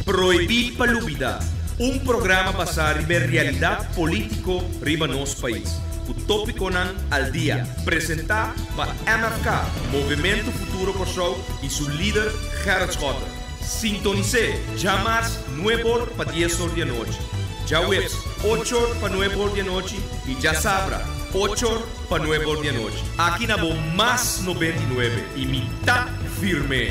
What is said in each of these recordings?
Prohibí pa lubidá, un programa basá riba e realidat polítiko riba nos pais, ku tópikonan al dia, presentá pa MFK, Movementu Futuro Kòrsou, i su lider Gerrit Schotten. Sintonis'é djamas nuebe or pa dies or di anochi, djaweps ocho or pa nuebe or di anochi i djasabra ocho or Pa nuebe or di anochi. Aki na bo mas nobenta i nuebe i mi ta firmé.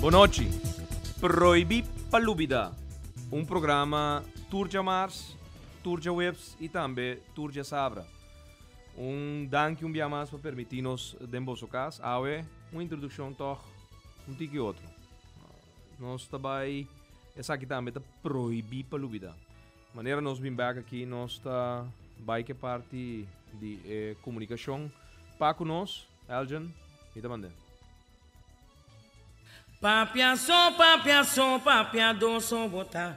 Bonochi. Proibí pa lubidá. Un programa tur djamars, tur djaweps i tambe tur djasabra. Un danki un bia mas pa permití nos den boso kas. Awe un introdukshon tòg un tiki otro. Nos ta bai, esaki tambe ta prohibí pa lubidá. Manera nos bin bèk akí, nos ta bai ku e parti di e komunikashon. Pa ku nos, Elgin, mi ta mand'é. Papia so, papia so, papia do so bo ta.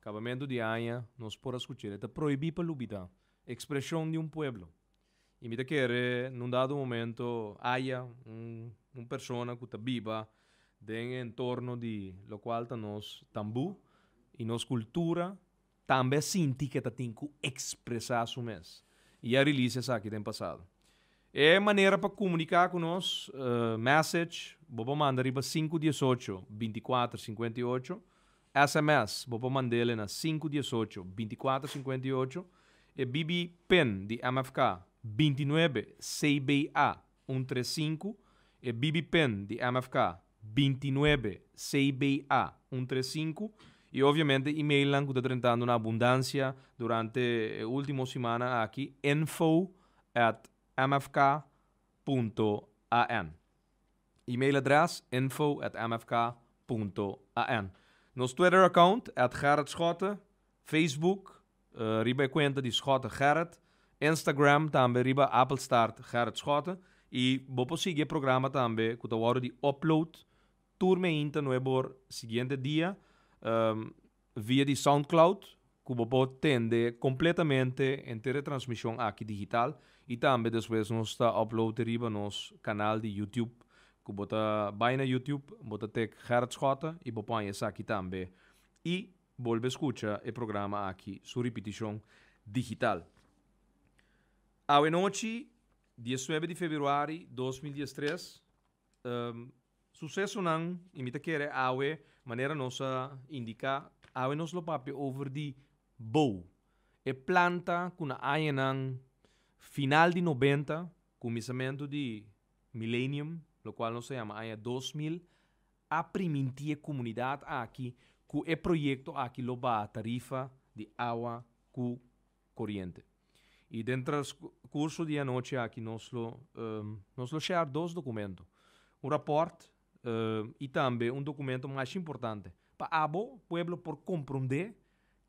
Kabamentu di aña nos por a skucha el, e ta prohibí pa lubidá, ekspreshon di un pueblo. I mi ta kere na un dado momento haya un persona ku ta biba den e entorno di lokual ta nos tambú i nos kultura, tambe a sinti ku e ta tin ku ekspresá su mes i ya release esaki den pasado. E manera pa komuniká ku nos, mèsech bo por manda riba sinku diesocho binti kuater sinkuenta i ocho, Sms, Bo por mand'e na sinku diesocho, binti kuater sinkuenta i ocho, e BB pin di MFK, binti nuebe, CBA, un tres sinku, e BB pin di MFK, binti nuebe, CBA, un tres sinku, i obviamente emailnan ku ta drentando na abundansia durante e ultimo simana aki, info at mfk punto an. Email adres, info at mfk punto an. Nos Twitter account, at Gerrit Schotte, Facebook, riba e cuenta di Schotte Gerrit, Instagram tambe riba Appelstaart Gerrit Schotte, y bo por sigui e programa tambe cu ta wordo di upload tur meinta nuevo siguiente dia, Via di Soundcloud cu bo por tende completamente henter e transmision aki digital y tambe despues nos ta upload e riba nos canal di YouTube. Cu bo ta bay na YouTube bo ta tik Gerrit Schotten y bo paña esaki tambe y bolbe scucha e programa aki su repetition digital. Awe nochi diesnuebe di Februari dos mil diestres. susesonan y mi ta kere awe manera nos a indica awe nos lo papia over di bou. E planta cu na añanan final di noventa cuminsamentu di milenium lo cual nos ta yama aña dos mil a priminti e comunidad aki cu e proyecto aki lo baha tarifa di awa cu coriente. Y den transcurso di e anochi aki nos lo nos lo share dos documento, un rapport y tambe un documento mashi importante pa abo pueblo por compronde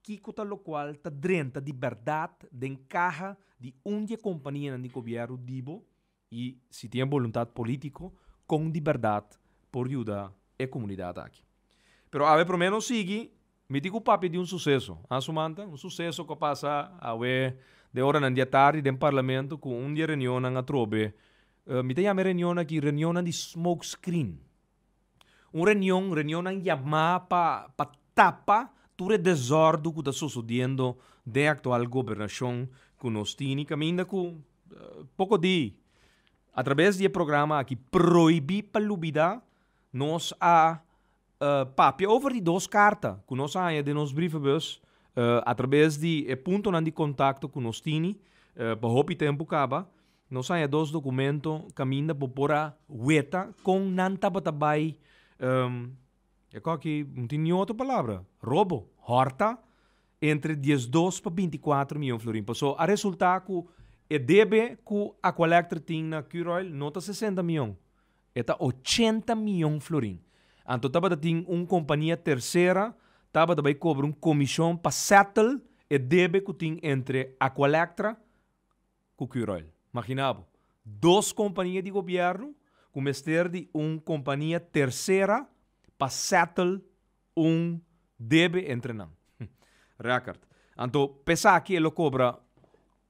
kico ta locual ta drenta di berdad den caha di un di e companianan di gobierno di bo I si tin e boluntat politico con di berdad por yuda e comunidad aki. Pero awe promeno sigui miti cu papia di un suceso, a sumanta? Un suceso cu a pasa awe den oranan di atardi den Parlamento cu un di e reunionnan atrobe, mi ta yama e reunionnan aki reunionnan di smoke screen. Un reunion, reunionnan yamá pa pa tapa tur e desórdu ku ta sosodiendo den e aktual gobernashon ku nos tini kaminda ku poko di atraves di e programa aki proibí pa lubidá nos a papia over di dos karta ku nos a haña den nos brievenbus atraves di e puntonan di kontakto ku nos tini pa hopi tempu kaba. Nos haya dos documento caminda bo por a weta con nan tabata bay e cu aki no tin ni otro palabra, robo, horta entre diesdos pa binticuatro miyon florin. Paso a resulta cu e debe cu Aqualectra tin na Curoil no ta sesenta miyon, e ta ochenta miyon florin. Anto tabata tin un compania tercera tabata bay cobra un comision pa settle e debe cu tin entre Aqualectra ku Curoil. Magina bo, dos kompania di gobièrnu ku mester di un kompania tersera pa settle un debe entre nan. Record. Anto p'esaki e lo kobra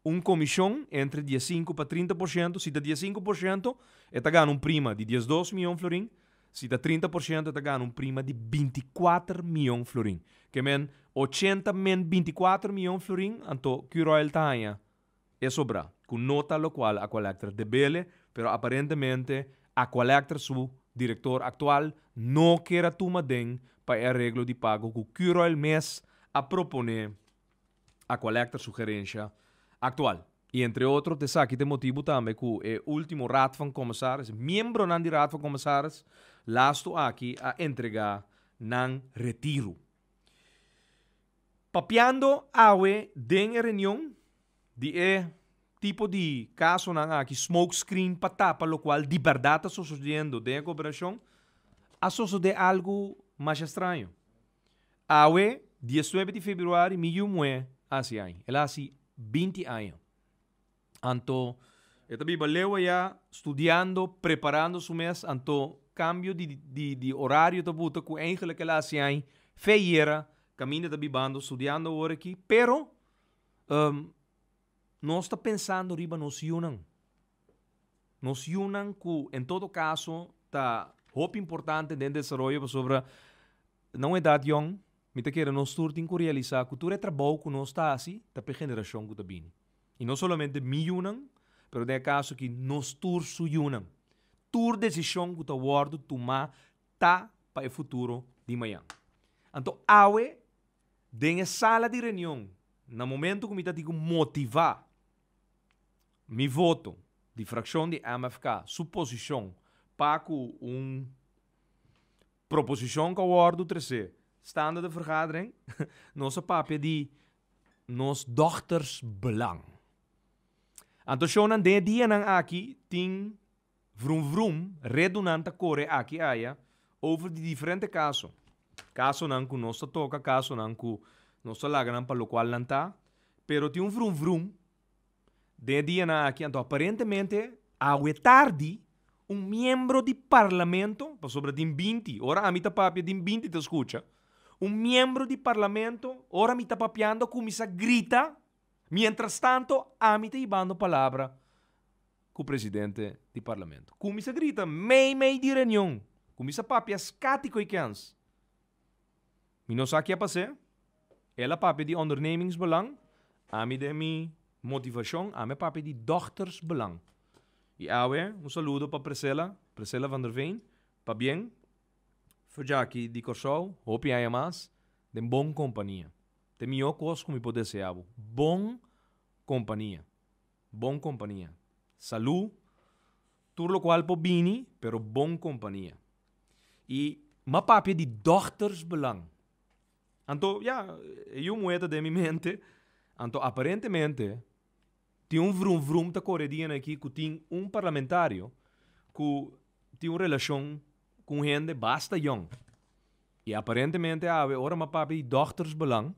un komishon entre dies sinku pa trinta por shento, si ta dies sinku por shento e ta gana un prima di dies dos mion florin, si ta trinta por shento e ta gana un prima di binti kuater mion florin. Ke men ochenta men binti kuater mion florin, anto Curoil ta haña E sobra, cu no ta locual Aqualectra debele, pero aparentemente Aqualectra su director actual no ker a tuma den pa e areglo di pago cu Curoil mes a propone Aqualectra su gerencia actual. Y entre otro t'esaki t'e motibu tambe cu e ultimo Raad van Commissaris, miembronan di Raad van Commissaris, lastu aki a entrega nan retiro. Papiando awe den e reunion di e tipo di casonan aki, smoke screen pa tapa locual di berdad ta sosodendo den e cooperacion, a sosode algo masha straño. Awe, diesnuebe di februari, mi yu muhé a haci aña. El a haci binti aña. Anto, e ta biba Lewa ya, studiando, preparando su mes, anto cambio di di di horario ta buta cu eigenlijk el a haci ai fe yera, caminda ta bibando, studiando awor aki, pero um nos ta pensando riba nos yunan, nos yunan cu en todo caso ta hopi importante den desaroyo pasobra na un edad yong mi ta kere nos tur tin cu realisa cu tur e trabou cu nos ta haci ta p'e generacion cu ta bini. I no solamente mi yunan, pero den e kaso aki nos tur su yunan. Tur desishon ku ta wòrdu tumá ta pa e futuro di mañan. Anto awe den e sala di reunion, na momentu ku mi ta tin ku motivá mi voto di frakshon di MFK su posishon pa ku un proposishon ka wòrdu tresé stando den vergadering, nos a papia di nos dochters belang. Anto shownan den e dianan aki tin vrum vrum, redunan ta kore aki aya over di diferente kaso. Kasonan ku nos ta toka, kasonan ku nos ta laga nan pa lokual nan ta, pero tin un vrum vrum Den e dianan aki anto aparentemente awe tardi un miembro di parlamento, pasobra den binti, ora ami ta papia den binti ta skucha, un miembro di parlamento ora mi ta papiando a kuminsá grita, miéntras tanto ami ta hibando palabra ku presidente di parlamento. Kuminsá grita meimei di reunion, kuminsá papia skati koikens. Mi no sa ke a pas'é. El a papia di ondernemingsbelang, ami den mi motivashon, ami a papia di dòktersbelang. I awe un saludo pa Presela, Presela van der Veen, pabien, Fujaki di Kòrsou, hopi aña mas, den bon kompania. Ta e mihó kos ku mi por deseá bo, bon kompania, bon kompania. Salú, tur lokual por bini, pero bon kompania. i ma papia di doktersbelang. Anto ya, e yu muhé ta den mi mente, anto aparentemente tin un vrum vrum ta kore dianan aki ku tin un parlamentario ku tin un relashon ku un hende basta yòn. I aparentemente awe ora ma papia di doktersbelang,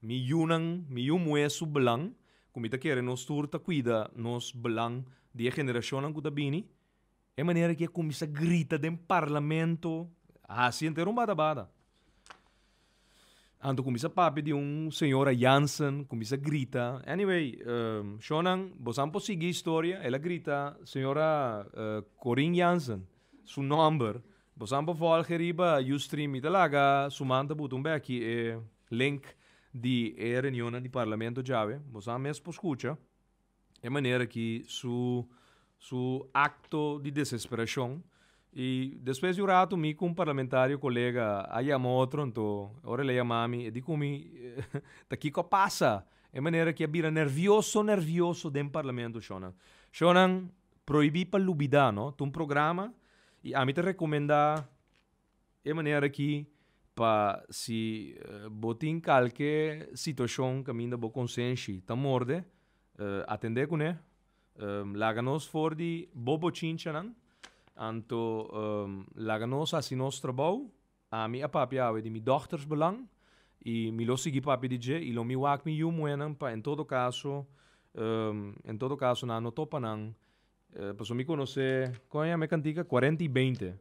mi yunan, mi yu muhé su belang, ku mi ta kere nos tur ta kuida nos belang di e generashonnan ku ta bini, E manera ki e kuminsá grita den parlamento, hasi henter un badabada. Anto kuminsá papia di un señora Jansen, kuminsá grita. Anyway, shonnan, bosan por sigui historia. El a grita señora Corine Jansen su nòmber. Bosan por vòlg'e riba Ustream. Mi ta laga suman ta butu un bèki e link di e reunionnan di parlamento djawe. Bosan mes por skucha. e manera ki su su akto di desesperashon i despues di un ratu mi ku un parlamentario kolega a yama otro nto ora el a yama mi e di ku mi ta kiko a pasa e manera ki a bira nervioso nervioso den parlamento shonnan shonnan prohibi pa lubida no ta un programa i ami ta rekomenda E manera aki pa si bo tin kalke situashon kaminda bo konsenshi ta morde, atendé kuné, laga nos for di bo bochinchanan, anto laga nos hasi nos trabou, ami a papia awe di mi dòktersbelang i mi lo sigui papia di dje i lo mi wak mi yu muhénan pa en todo kaso en todo kaso nan no topa nan Pasobra mi conoce Coña mi a cantica cuarenta y beinte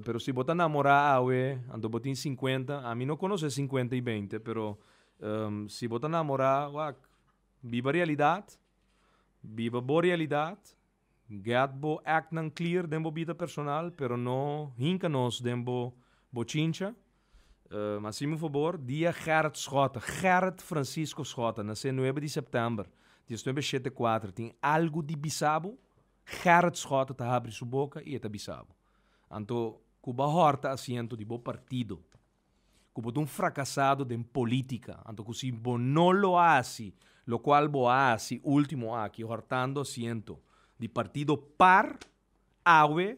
pero si bo ta namora awe anto bo tin cincuenta ami no conoce cincuenta y beinte pero si bo ta namora wak biba realidad biba bo realidad get bo act nan clear den bo bida personal pero no hinca nos den bo chincha. Um así mi fobor, Dia Gerrit Schotten, Gerrit Francisco Schotten, nasé nuebe di september, diesnuebe shete kuater, tin algu di bisa bo? Gerrit Schotten ta habri su boka i e ta bisa bo. Anto, ku bo a hòrta asiento di bo partido, ku bo ta un frakasado den polítika, anto ku si bo no lo hasi lokual bo a hasi último aki hòrtando asiento di partido par, awe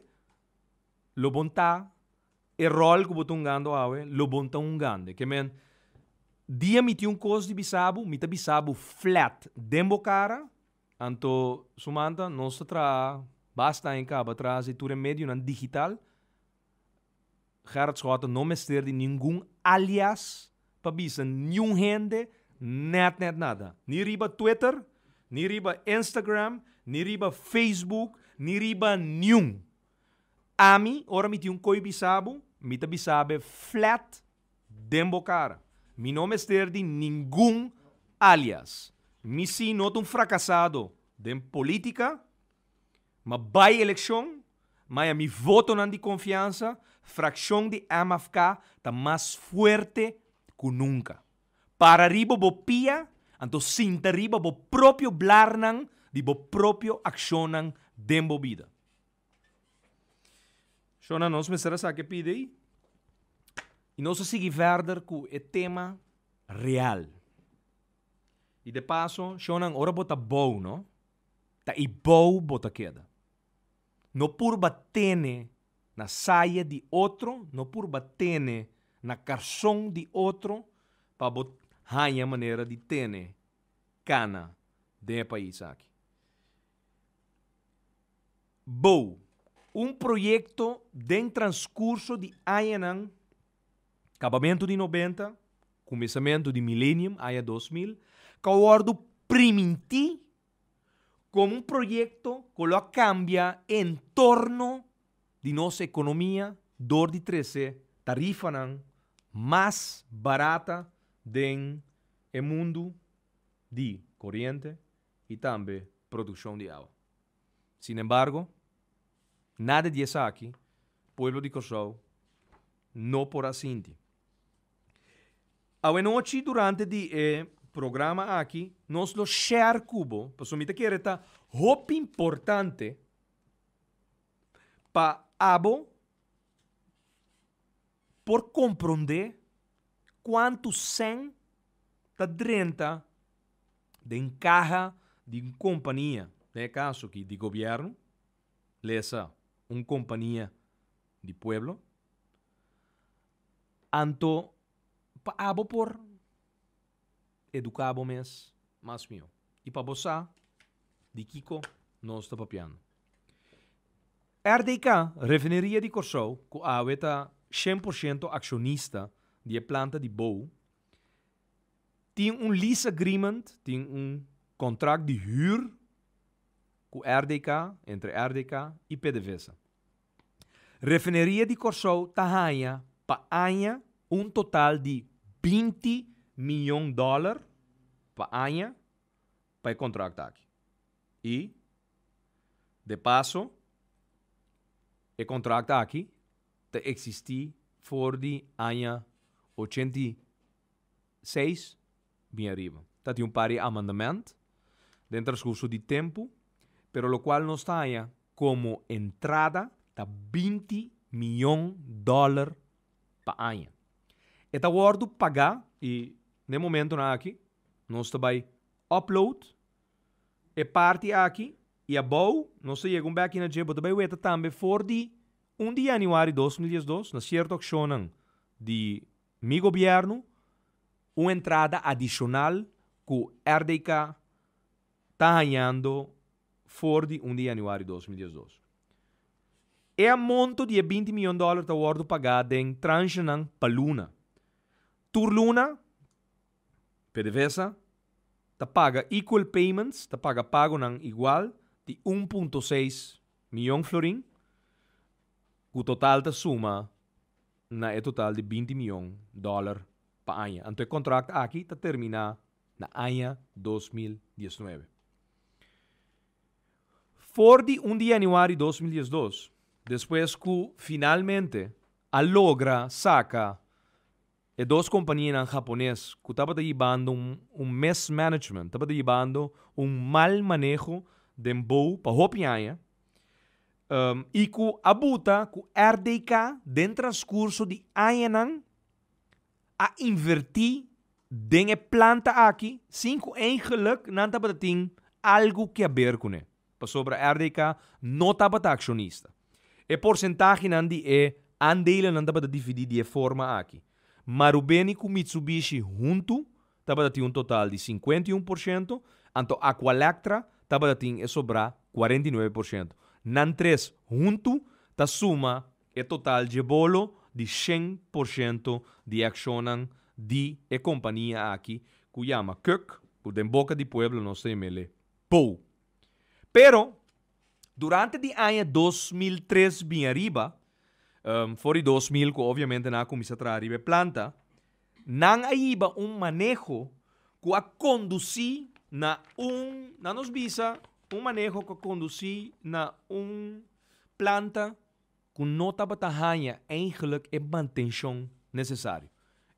lo bon ta E ròl ku bo ta hungando awe lo bon ta hungande. Ke men, dia mi tin un kos di bisa bo, mi ta bisa bo flèt den bo kara. Anto, sumanta, nos ta traha basta aña kaba traha si tur e medionan digital. Gerard Schout ta no mester di ningun alias pa bisa niun hende nèt nèt nada. Ni riba Twitter, ni riba Instagram, ni riba Facebook, ni riba niun. Ami, ora mi tin un koi bisa bo, mi ta bisa be flat den bo kara. Mi no mester di ningun alias. Mi si no ta un frakasado den politika, ma bai elekshon, maya mi votonan di konfiansa, frakshon di MFK ta mas fuerte ku nunka. Para riba bo pia, anto sinta riba bo propio blarnan di bo propio akshonnan den bo bida. So nan nos mester a sa ke pidi i nos a sigui verder ku e tema real. I de paso, shon nan, ora bo ta bou, no? Ta i bou bo ta keda. No purba tene na saya di otro, no purba tene na karson di otro pa bo haña manera di tene kana den e pais aki. Bo. Un proyekto den transkurso di añanan, kabamentu di nobenta, kuminsamentu di milenium, aña dos mil, ku a wòrdu primintí komo un proyekto ku lo a kambia e entorno di nos ekonomia dor di trese tarifanan mas barata den e mundu di koriente, i tambe produkshon di awa. Sinembargo, nada di esaki pueblo di Kòrsou no por a sinti. Awenochi durante di e programa aki nos lo share ku bo, pasobra mi ta kere ta hopi importante pa abo. Por komprondé kuantu sèn ta drenta den kaha di un kompania, den e kaso aki di gobièrnu, lesa un kompania di pueblo, anto pa abo por. Eduká bo mes mas mihó. I pa bo sa di kiko nos ta papiando. RDK, Refineria di Kòrsou, ku awe ta shen por shento akshonista di e planta di bou, tin un lease agreement, tin un kontrakt di hür ku RDK, entre RDK i Pdvsa. Refineria di Kòrsou ta haña pa aña un total di binti mion dòler pa aña pa e kontrakto aki. I de paso e kontrakto aki ta eksistí for di aña ochenta i. seis bin ariba. Ta tin un par di amendement den transcurso di tempo, pero locual nos ta haña como entrada ta binti miyon dollar pa aña. E ta wordo pagá i na e momentonan aki nos ta bai upload e parti aki i abou nos ta yega un bèkje na dje. Bo ta bai weta tambe for di un di yanuari dos mil diesdos na cierto accionnan di. Mi Gobierno, un entrada adicional cu RDK ta hañando for di un di januari dos mil diesdos. E a monto di e binti miyon dollar ta wordo pagá den transhenan pa luna. Tur luna, PDVSA ta paga equal payments, ta paga pagonan igual, di un punto seis miyon florin, cu total ta suma. na e total di binti mion dòler pa aña. Anto e kontrakt aki ta terminá na aña dos mil dies nuebe. For di un di yanüari dos mil dies dos, despues ku finalmente a logra saka e dos kompanianan hapones ku tabata yibando un mismanagement, tabata yibando un mal maneho den bou pa hopi aña, i ku a buta ku RDK den transkurso di añanan a invertí den e planta aki sin ku eingeluk nan tabata tin algu ke aber kuné, pasobra RDK no tabata akshonista. E porsentahenan di e andelennan tabata dividí di e forma aki, Marubeni ku Mitsubishi huntu tabata tin un total di sinkuenta i un por shento, anto Aqualectra tabata tin e sobrá kuarenta i nuebe por shento. Nan tres huntu ta suma e total djebolo di shen por shento di e akshonnan di e kompania aki ku yama Kuk, ku den boka di pueblo nos ta yam'é le, Pou. Pero, durante di aña dos mil tres bin ariba, for di dos mil ku obviamente nan a kuminsá traha riba e planta, Nan a hiba un maneho ku a kondusí na un, nan nos bisa, un maneho ku a kondusí na un planta ku no tabata haña eigelijk e mantenshon nesesario.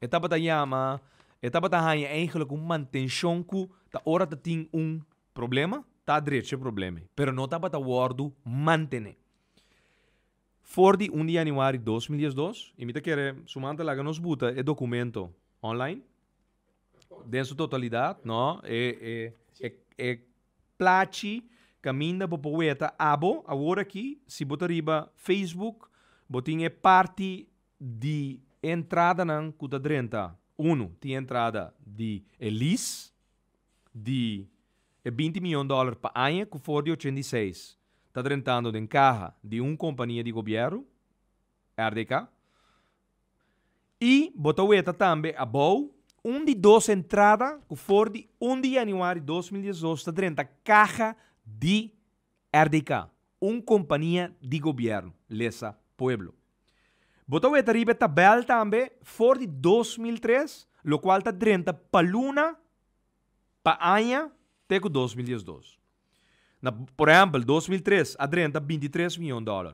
E tabata yama, e tabata haña eigelijk un mantenshon ku ta ora ta tin un problema ta adrecha e problema ei, pero no tabata wòrdu mantené. For di un di januari dos mil diesdos y mi ta kere su man ta laga nos buta e documento online den su totalidad no e plachi caminda bo por weta abo awor aki si bo ta riba Facebook bo tin e parti di entradanan cu ta drenta uno tin entrada di e lease di e binti mion dòler pa aña ku for di ochenta i seis ta drentando den kaha di un kompania di gobièrnu, RDK, i bo ta weta tambe abou un di dos entrada ku for di un di yanüari dos mil diesdos ta drenta kaha di RDK, un kompania di gobièrnu, lesa Pueblo. Bo ta weta riba e tabèl tambe for di dos mil tres, lokual ta drenta pa luna, pa aña te ku dos mil diesdos. Na, por ehèmpel, dos mil tres a drenta binti tres mion dòler,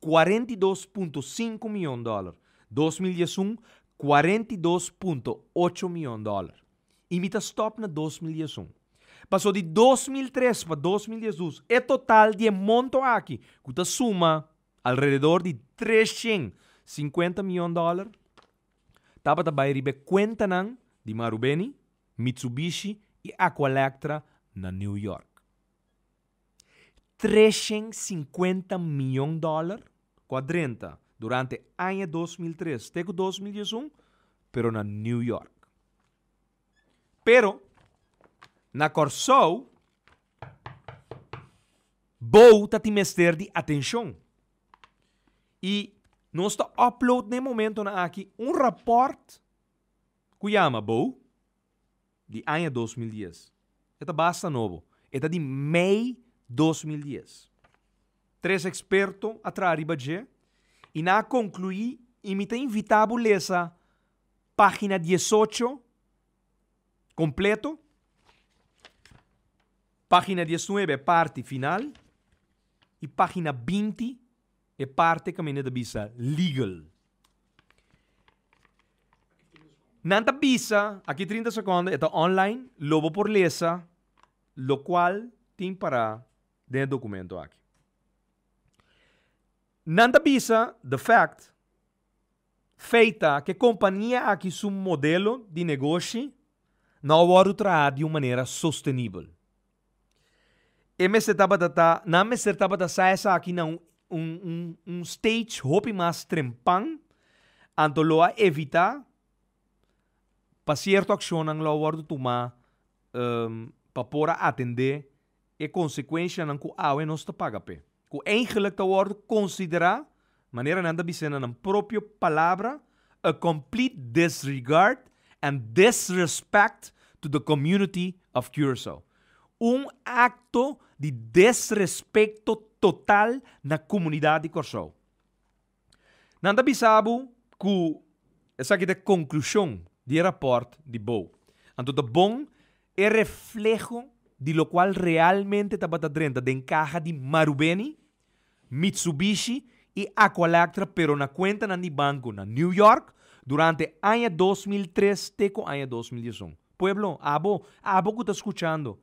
Cuarenta i dos punto sinku mion dòler, dos mil dies un, cuarenta i dos punto ocho mion dòler, i mi ta stòp na dos mil dies un. Paso di dos mil tres pa dos mil dies dus e total di e monto aki, ku ta suma alrededor di treshen sinkuenta mion dòler, tabata bai riba e kuentanan di Marubeni, Mitsubishi i Aqualectra na New York. Treshen sinkuenta mion dòler ku a drenta durante aña dos mil tres te ku dos mil dies un pero na New York. Pero na Kòrsou bou ta tin mester di atenshon i nos ta upload na e momentonan aki un rapòrt ku yama Bou. di aña dos mil dies. E ta basta nobo. E ta di mei dos mil dies. Tres eksperto a traha riba dje i nan a konkluí i mi ta invitá bo lesa página diesocho kompleto, página diesnuebe e parti final i página binti e parti caminda ta bisa legal. Nan ta bisa aki trinta secondo e ta online lo bo por lesa locual tin para den e documento aki. Nan ta bisa the fact, feit, ta cu e compania aki su modelo di negoshi no a wordo traha di un manera sostenibel. E mester tabata ta, nan mester tabata sa esaki na un un un un stage hopi mas trempan, anto lo a evitá pa sierto akshonnan lo a wòrdu tumá pa por a atendé e konsekuenshanan ku awe nos ta paga p'e. Ku eigentlik ta wòrdu konsiderá Manera nan ta bisa na nan propio palabra, a complete disregard and disrespect to the community of Curaçao. Un acto di disrespecto total na comunidad di Corsou. Nan ta bisa bo cu esaki ta e conclusion di e rapport di Bou. Anto ta bon e refleho di locual realmente tabata drenta den caha di Marubeni? Mitsubishi i Aqualectra pero na kuentanan di banku na New York durante aña dos mil tres te ku aña dos mil dies un. Pueblo, abo, abo ku ta skuchando,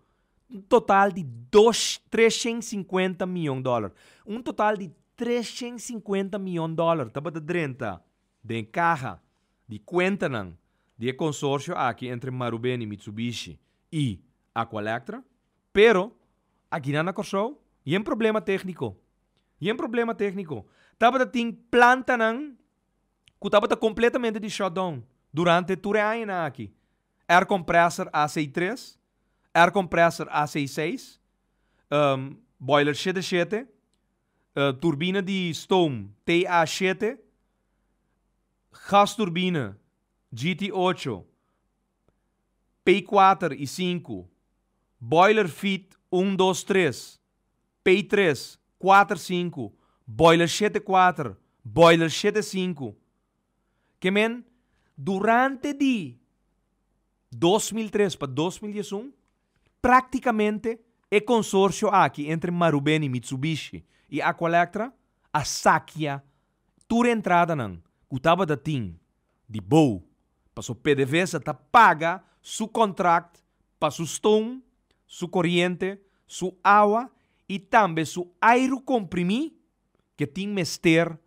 un total di dos treshent sinkuenta miyon dòler, un total di treshent sinkuenta miyon dòler tabata drenta den kaha di kuentanan di e konsorsio aki entre Marubeni, Mitsubishi i Aqualectra. Pero, aki nan na Kòrsou, yen problema tékniko. Yen problema tékniko. Tabata tin plantanan ku tabata kompletamente di shutdown durante tur e añanan aki. Air compressor AC tres, air compressor AC seis, boiler shete shete, turbina di stoom TA shete, gasturbina GT ocho, Pei kuater i sinku, Boiler feed un dos tres, Pei tres, kuater sinku, Boiler shete kuater, Boiler shete sinku. Ke men, durante di dos mil tres pa dos mil dies un, praktikamente e konsorsio aki entre Marubeni, Mitsubishi i Aqualectra a sakia tur entradanan ku tabata tin di bou paso pdvsa ta paga su kontrakt pa su stoom, su koriente, su awa i tambe su airu komprimí ke tin mester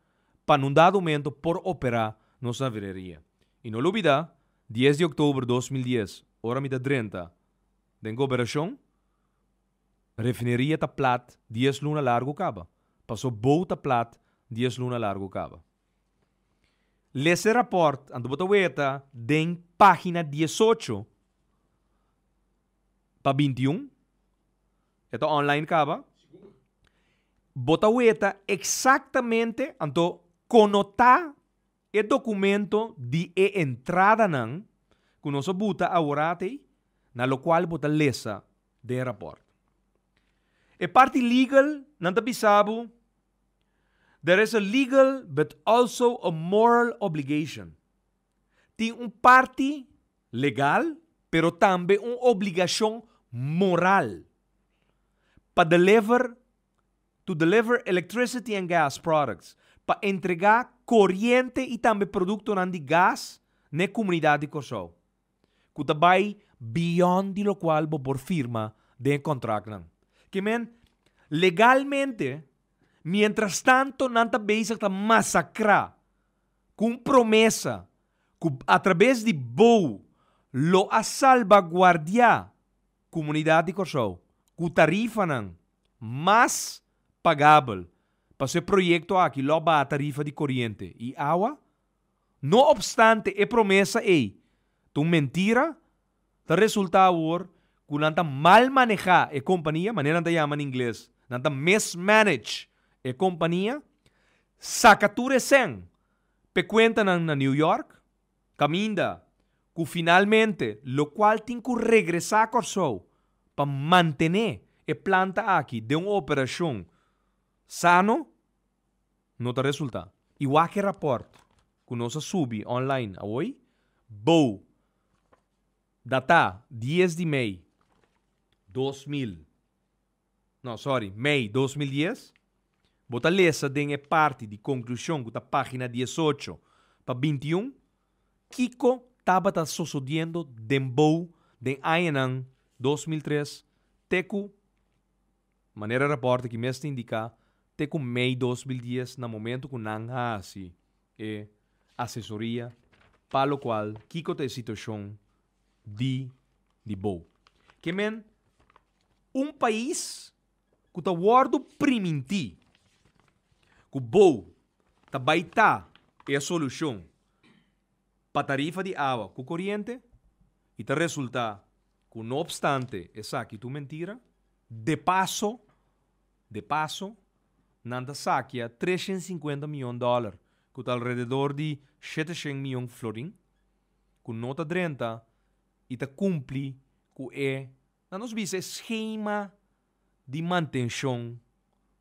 pa nun dado momento por operá nos avireria. I no lo bida dies di oktober dos mil dies ora mi ta drenta den goberashon, Refineria ta plat dies luna largu kaba, paso bou ta plat dies luna largu kaba. Lesa e raport, anto bo ta weta den pagina diesocho pa binti un, e ta online kaba, bo ta weta eksaktamente anto kono ta. E documento di e entradanan cu nos a buta aworatei na locual bo ta lesa den rapport. E parti legal nan ta bisa bo, There is a legal but also a moral obligation, Tin un parti legal pero tambe un obligacion moral pa deliver to deliver electricity and gas products, pa entregá koriente i tambe produktonan di gas na e komunidat di Kòrsou, ku ta bai beyond di lokual bo por firma den e kontraktnan. Ke men, legalmente, mientrastanto nan ta bezig ta masakrá ku un promesa ku atrabes di bou lo a salbaguardiá, Comunidad di Corsou cu tarifanan mas pagabel pa su e proyecto aki lo baha tarifa di coriente y awa. No obstante e promesa ey ta un mentira, ta resulta awor cu nan ta mal maneha e compania, manera nan ta yama na ingles, nan ta mismanage e compania, saca tur e cen p'e cuentanan na New York. Caminda cu finalmente lo cual tin cu regresa Corsou pa mantene e planta aki den un operacion sano no ta resulta. Y wak e rapport cu nos a subi online awoy, bou data dies di mei dos mil. No, sorry, mei dos mil dies. Bo ta lesa den e parti di konklushon ku ta página diesocho pa binti i un kiko tabata sosodiendo den bo den añanan dos mil tres te ku, manera rapòrtnan aki mes ta indiká, te ku mei dos mil dies na momentu ku nan hasi e asesoria pa lokual kiko ta e situashon di di bo. Ke men un pais ku ta wòrdu primintí ku bo ta bai ta e solushon pa tarifa di awa ku koriente i ta resultá ku no opstante esaki ta un mentira de paso de paso nan ta sakia treshen sinkuenta miyon dòler ku ta alrededor di shete shen miyon florin. ku no ta drenta i ta kumpli ku e, na nos bisa, e skema di mantenshon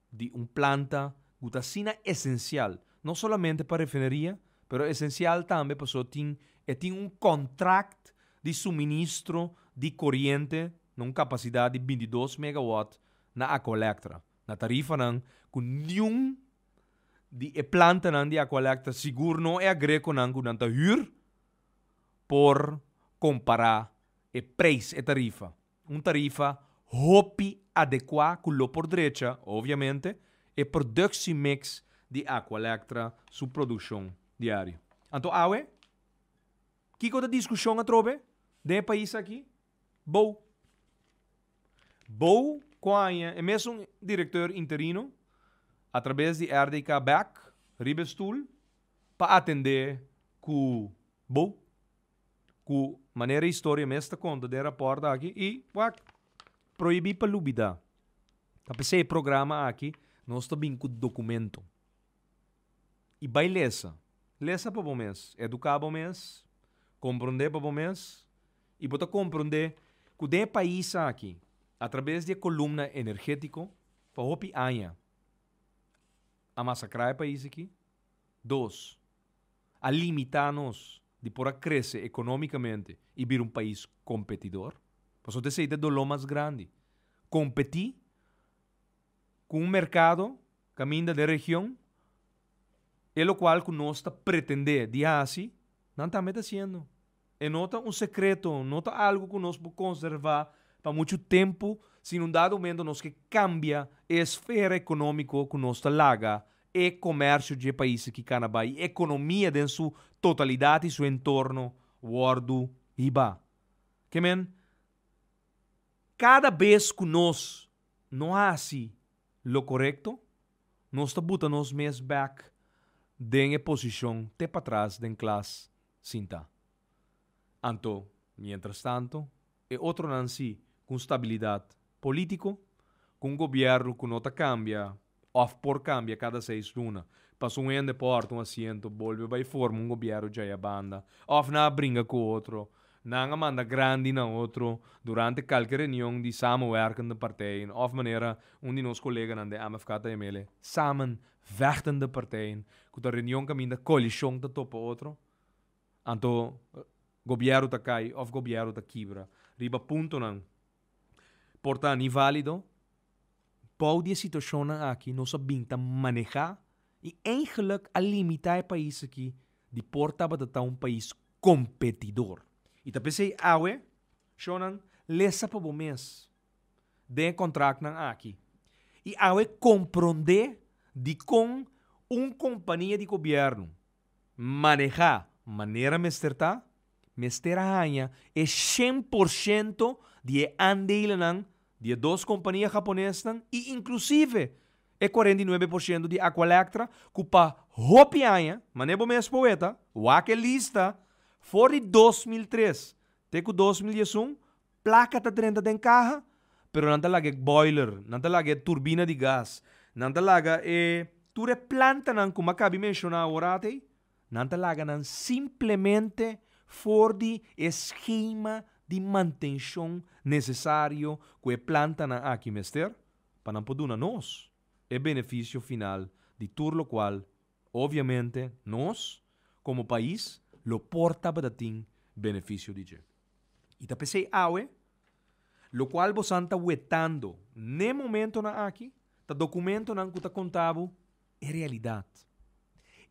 di un planta ku ta asina esensial, no solamente pa refineria, pero esensial tambe pasobra tin e tin un kontrakt di suministro di koriente na un kapasidat di bintidos megawòt na Akoelektra, na tarifanan ku niun di e plantanan di acualecta sigur no e agreconan cu nan ta huur por compara e prijs, e tarifa. Un tarifa hopi adecua cu lo por drecha, obviamente, e productiemix di Aqualectra su produccion diario. Anto awe, kico ta discusion atrobe den e pais aki? Bo. Bo cu a haña e mesun directeur interino a traves di RDK bek riba e stoel pa atende cu bo. Cu manera e historia mes ta conta den e rapport aki y wak. Prohibi pa lubida, ta p'e se e programa aki nos ta bin cu documento. Y bay lesa, lesa pa bo mes, educa bo mes, compronde pa bo mes, I bo ta komprondé ku den e pais aki, atrabes di e kolumna energétiko, pa hopi aña a masakrá e pais aki. Dos, a limitá nos di por a krese ekonómikamente i bira un pais kompetidor. Pasobra esei ta e doló mas grandi. Kompetí ku un merkado kaminda den e region, e lokual ku nos ta pretendé di hasi, nan tambe ta hasiendo. E no ta un sekreto, no ta algu ku nos por konservá pa muchu tempu si na un dado momento nos ke kambia e esfera ekonómiko ku nos ta laga e komèrsio dje paisnan ki kana bai, e ekonomia den su totalidat i su entorno wòrdu hibá. Ke men, kada bes ku nos no hasi lo korekto, nos ta buta nos mes bèk den e posishon te patras den klas sinta. Anto, mientrastanto, e otronan si cu un stabilidad politico, cu un gobierno cu no ta cambia of por cambia cada seis luna, pasobra un hende por ta un asiento, bolbe bay forma un gobierno djay abanda, of nan a bringa cu otro, nan a manda grandi na otro durante calke reunion di samenwerkende partijen of manera un di nos coleganan den MFK ta yamele samen Vechtende partijen ku ta reunion kaminda koalishon ta topa otro, anto gobièrnu ta kai òf gobièrnu ta kibra. Riba puntonan por ta ni válido. Bou di e situashonnan aki nos a bin ta manehá i eingelik a limitá e pais aki di por tabata ta un pais kompetidor. I ta p'esei awe, shònan, lesa pa bo mes. den e kontraktnan aki i awe komprondé dikon un kompania di gobièrnu manehá manera mester ta, mester haña e shen por shento di e andeilennan di e dos kompania haponesnan i inklusive e kuarenta i nuebe por shento di Aqualectra ku pa hopi aña, manera bo mes por weta, wak e lista, for di dos mil tres te ku dos mil dies un Plaka ta drenta den kaha, pero nan ta laga e boiler, nan ta laga e turbina di gas, nan ta laga e tur e plantanan ku Maccabi menshoná ora atei, nan ta laga nan simplemente for di e skema di mantenshon nesesario ku e plantanan aki mester pa nan por duna nos e benefisio final di tur lokual obviamente nos komo pais lo por tabata tin benefisio di dje. I ta p'esei awe, lokual bosan ta wetando n'e momentonan aki, ta dokumentonan ku ta konta bo e realidat.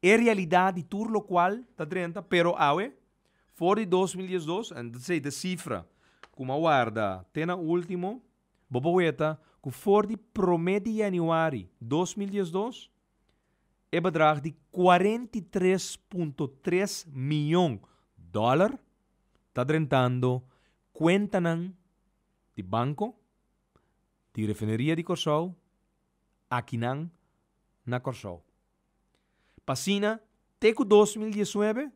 E realidat di tur lokual ta drenta, pero awe, for di dos mil dies dos, ta p'esei te sifra ku mi a warda te na último, bo por weta ku for di promé di yanüari dos mil dies dos, e bedrag di kuarenta i tres punto tres mion dòler, ta drentando kuentanan di banko di Refineria di Kòrsou akinan na Kòrsou. Pa asina te ku dos mil diesnuebe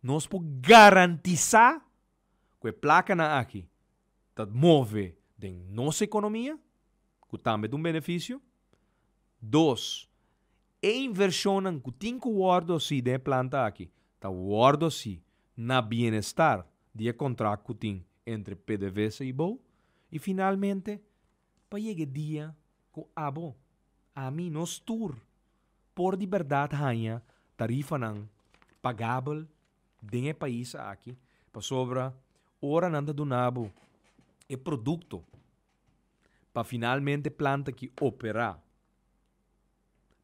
nos por garantisá ku e plakanan aki ta move den nos ekonomia, ku tambe ta un benefisio. Dos, E inversionnan cu tin cu wordo haci den e planta aki ta wordo haci na bienestar di e contract cu tin entre pdvsa y bo y finalmente pa yega e dia cu abo, ami, nos tur por di berdad haya tarifanan pagabel den e pais aki pasobra ora nan ta duna bo e producto pa finalmente e planta aki opera.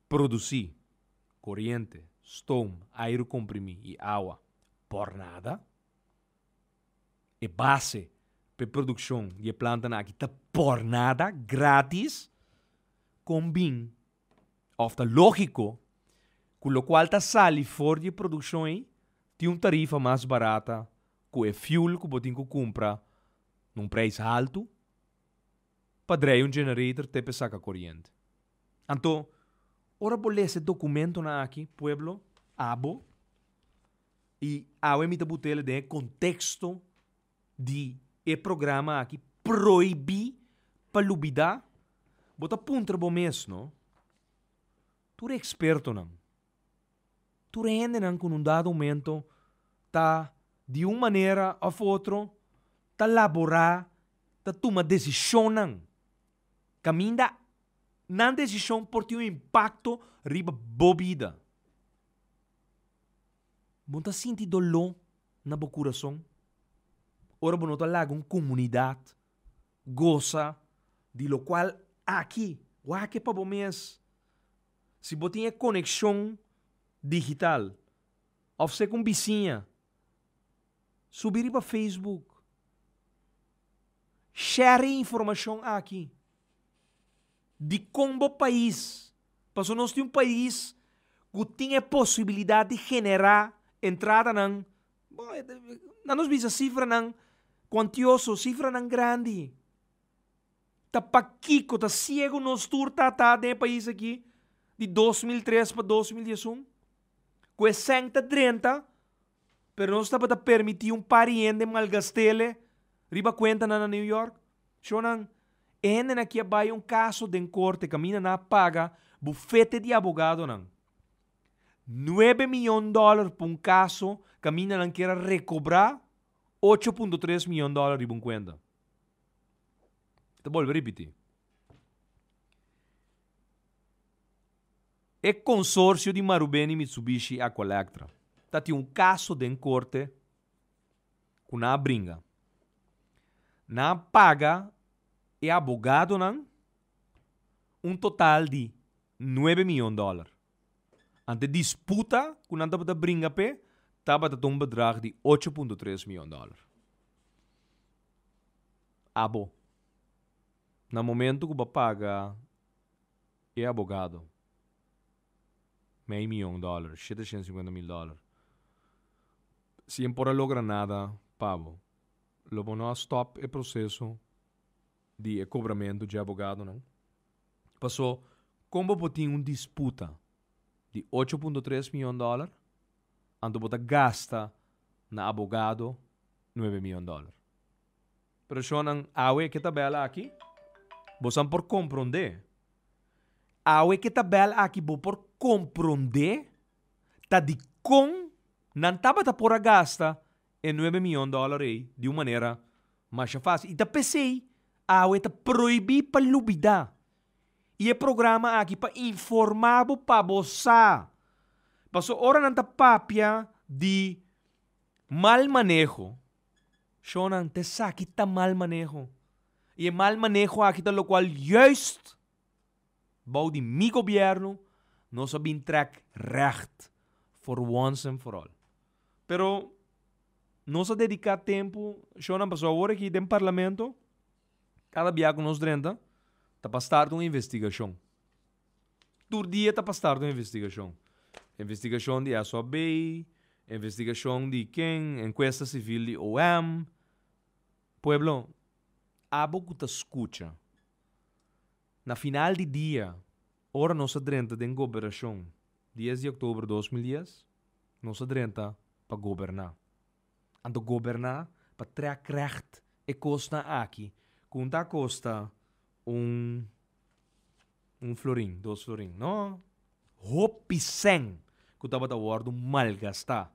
Produsí, koriente, stoom, airu komprimí i awa por nada. E base pa e produkshon di e plantanan akí ta por nada, grátis, kon bin òf ta lógiko ku lokual ta sali for di e produkshon ei tin un tarifa mas barata ku e fuel ku bo tin ku kumpra na un preis haltu? pa drei un generator te pe saka koriente. Anto, ora bo lesa e dokumentonan aki, pueblo, abo, i awe mi ta butela den e konteksto di e programa aki proibí pa lubidá, bo ta puntra bo mes, no? Tur e ekspertonan. Tur e hendenan ku un dado momento ta di un manera òf otro ta laborá, ta tuma desishonnan kaminda nan desishon por tin un impakto riba bo bida. Bo ta sinti doló na bo kurason ora bo no ta laga un komunidat gosa di lokual aki wak e pa bo mes. Si bo tin e konekshon digital òf sek un bisiña, subi riba Facebook. Share e informashon aki dikon bo pais, paso nos tin un pais ku tin e posibilidat di generá entradanan, bo lanos bisa sifranan kuantioso, sifranan grandi. Ta pakiko ta siego nos tur tata den e pais aki di dos mil tres pa dos mil diesun? Ku e sèn ta drenta pero nos tabata permiti un pari hende malgastele riba kuentanan na New York? Shonnan, e hendenan aki a bai un kaso den korte kaminda nan a paga bufete di abogadonan nuebe miyon dòlèr pa un kaso kaminda nan kier a rekobrá ocho punto tres miyon dòlèr riba un kuenta. Ta bolbe ripití. E konsorsio di Marubeni-Mitsubishi Aqualectra ta tin un kaso den korte ku nan a bringa. Nan a paga e abogadonan un total di nuebe miyon dòler. Ante disputa ku nan tabata bringa p'e tabata ta un bedrag di ocho punto tres miyon dòler. Abo, na momentu ku bo paga e abogado mei miyon dòler, shete shenda singwenta mil dòler, si e por a logra nada pa bo, lo bo no a stòp e proseso. di e kobramentu dje abogadonan. Pasó, kon bo por tin un disputa di ocho punto tres mion dòler anto bo ta gasta na abogado nuebe mion dòler? Pero shonnan, awe ke tabèl aki bosan por komprondé. Awe ke tabèl aki bo por komprondé ta dikon nan tabata por a gasta e nuebe mion dòler ei di un manera masha fásil i ta p'esei awe ta prohibí pa lubidá i e programa aki pa informá bo pa bo sa paso ora nan ta papia di mal maneho shònan ta esaki ta mal maneho i e mal maneho aki ta lokual yùist. Bou di mi gobierno nos a bin trek recht for once and for all. Pero nos a dedica tempo shonan paso awor aki den parlamento cada bia cu nos drenta ta pa start un investigacion. Tur dia ta pa start un investigacion. Investigacion di esop bay, investigacion di ken, encuesta civil di om. Pueblo abo cu ta scucha Na final di dia, ora nos a drenta den goberashon dies di oktober dos mil dies, nos a drenta pa goberná. Anto goberná pa trèk règt e kosnan aki ku un ta kosta un un florin, dos florin. No! Hopi sèn ku tabata wòrdu malgastá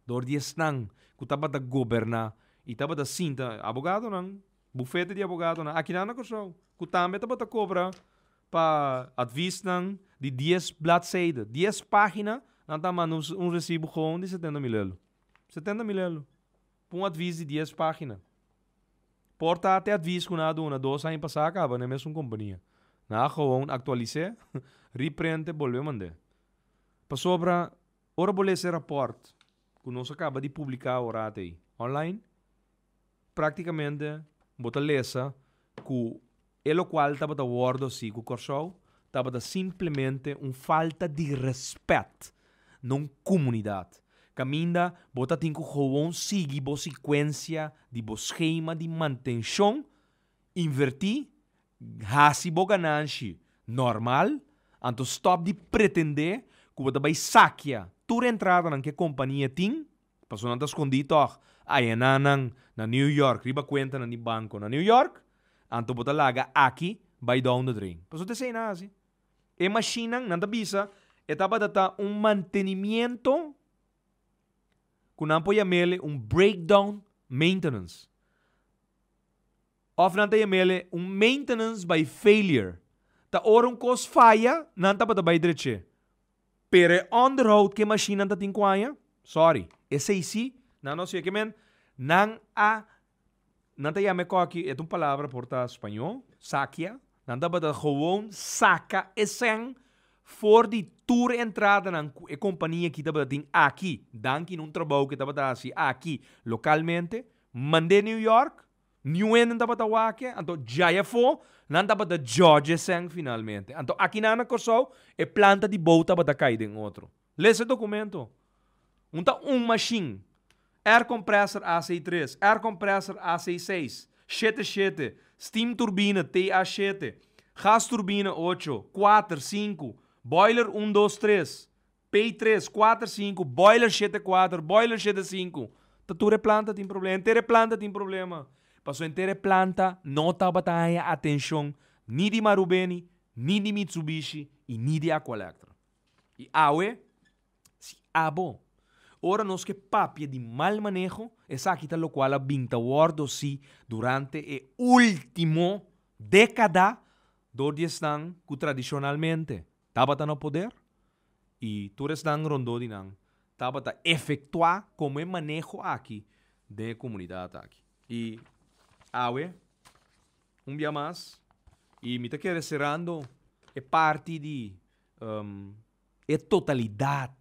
dor di esnan ku tabata goberná i tabata sinta, abogadonan. Bufete di abogadonan akinan na Kòrsou ku tambe tabata kobra pa advisnan di dies bladseide, dies página, nan ta manda un resibo gowon di setenta mil elo. Setenta mil elo pa un advis di dies página. Por ta te advis ku nan a duna dos aña pasá a kaba na e mesun kompania. Nan a gowon aktualis'é, riprint'é, bolbe mand'é. Pasobra ora bo lesa e rapòrt ku nos a kaba di publiká ora atei, online, Practicamente bo ta lesa cu e locual tabata wordo si cu Corsou tabata simplemente un falta di respet na un comunidad. Caminda bo ta tin cu gewoon sigui bo secuencia di bo schema di mantencion, inverti, haci bo gananshi normal, anto stop di pretende cu bo ta bay sakia tur e entradanan cu e compania tin. Personan ta skondí tòg ayenanan na New York riba kuentanan di banko na New York, anto bo ta laga aki bai Downderdrein. Pasobra ta esei nan hasi. E mashinnan, nan ta bisa, e tabata ta un mantenimiento ku nan por yama el un breakdown maintenance. Òf nan ta yama el un maintenance by failure. Ta ora un kos faya, nan tabata bai drech'é. Pero e onderhoud ku e mashinnan ta tin ku haña, sorry, esei si nan no sirbi. Kimen nan a, nan ta yama e kòki, e ta un palabra por ta spañó, sakia. Nan tabata gewoon saka e sèn for di tur e entradanan ku e kompania ki tabata tin aki, danki na un trabou ku e tabata hasi aki lokalmente, mand'é New York. Niun hende no tabata wak-e, anto djai afó nan tabata djòdje esèn finalmente. Anto akinan na Kòrsou e planta di bou tabata kai den otro. Lesa e dokumento. Un ta un mashin, air compressor AC tres, air compressor AC seis, shete shete, steam turbina TA shete, gas turbina ocho, kuater, sinku, boiler un dos tres, Pei tres, kuater, sinku, boiler shete kuater, boiler shete sinku, ta tur e planta tin problema, henter e planta tin problema. Pasobra henter e planta no tabata haña atenshon ni di Marubeni, ni di Mitsubishi i ni di Aqualectra. I awe, si abo, ora nos ke papia di mal maneho, esaki ta lokual a bin ta wòrdu si durante e último dékada dor di esnan ku tradishonalmente, Tabata na poder y tur esnan rondó di nan tabata efectuá como e maneho aki den e comunidad aki. Y awe un bia mas y mi ta kere cerando e parti di e totalidad